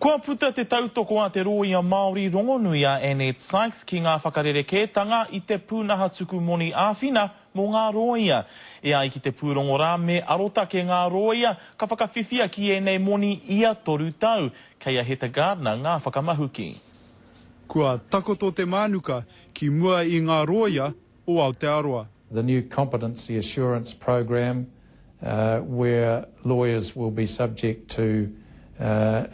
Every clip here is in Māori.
Kua puta te tautoko a te rōia Māori rongonui a Annette Sykes ki ngā whakarerekētanga i te pūnaha tuku moni āwhina mō ngā rōia. E ai ki te pūrongo rā, me arotake ngā rōia ka whakawhiwhia ki ēnei moni ia toru tau. Kei a Heta Gardiner ngā whakamahuki. Kua takoto te mānuka ki mua i ngā rōia o Aotearoa. The new Competency Assurance Program where lawyers will be subject to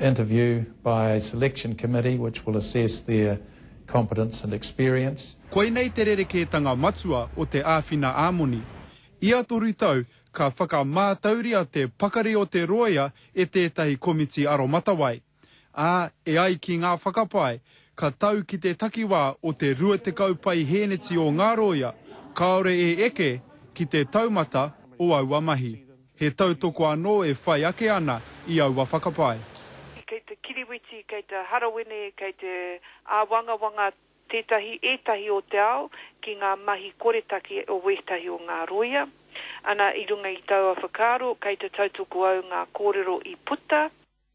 interview by a selection committee which will assess their competence and experience. Koinei te rerekētanga matua o te āwhina ā-moni. Ia toru tau, ka whakamātauria te pakari o te rōia e tētahi komiti aromatawai. ā, e ai ki ngā whakapae, ka tau ki te takiwā o te 20 paihēneti o ngā rōia kāore e eke ki te taumata o aua mahi. He tautoko anō e whai ake ana i aua whakapae. Kei te kiriwiti, kei te harawene, kei te āwangawanga tētahi, ētahi o te ao ki ngā mahi koretake o wētahi o ngā rōia. Ana, i runga i taua whakaaro, kei te tautoko au ngā kōrero i puta.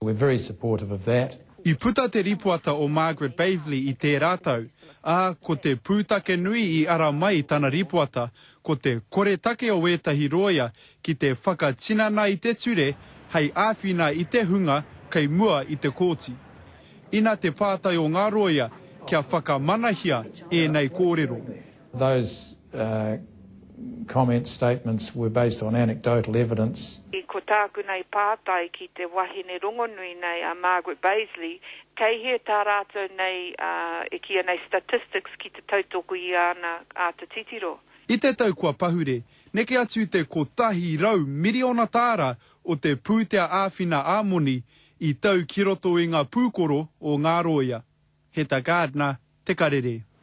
We're very supportive of that. I puta te rīpoata o Margaret Baseley i tērā tau, ā, ko te pūtake nui i ara mai i tana rīpoata, ko te koretake o ētahi rōia ki te whakatinana i te ture hei āwhina i te hunga kei mua i te kōti. Ina te pātai o ngā rōia kia whakamanahia ēnei kōrero. Those comments, statements were based on anecdotal evidence. I ko tāku nei pātai ki te wahine rongonui nei a Margaret Bazely, kei hea tā rātou nei e kīia nei statistics ki te tautoko i āna āta titiro? I te tau kua pahure, neke atu te kotahi rau miriona tāra o te pūtea āwhina ā-moni i tau ki roto i ngā pūkoro o ngā rōia. Heta Gardner, Te Karere.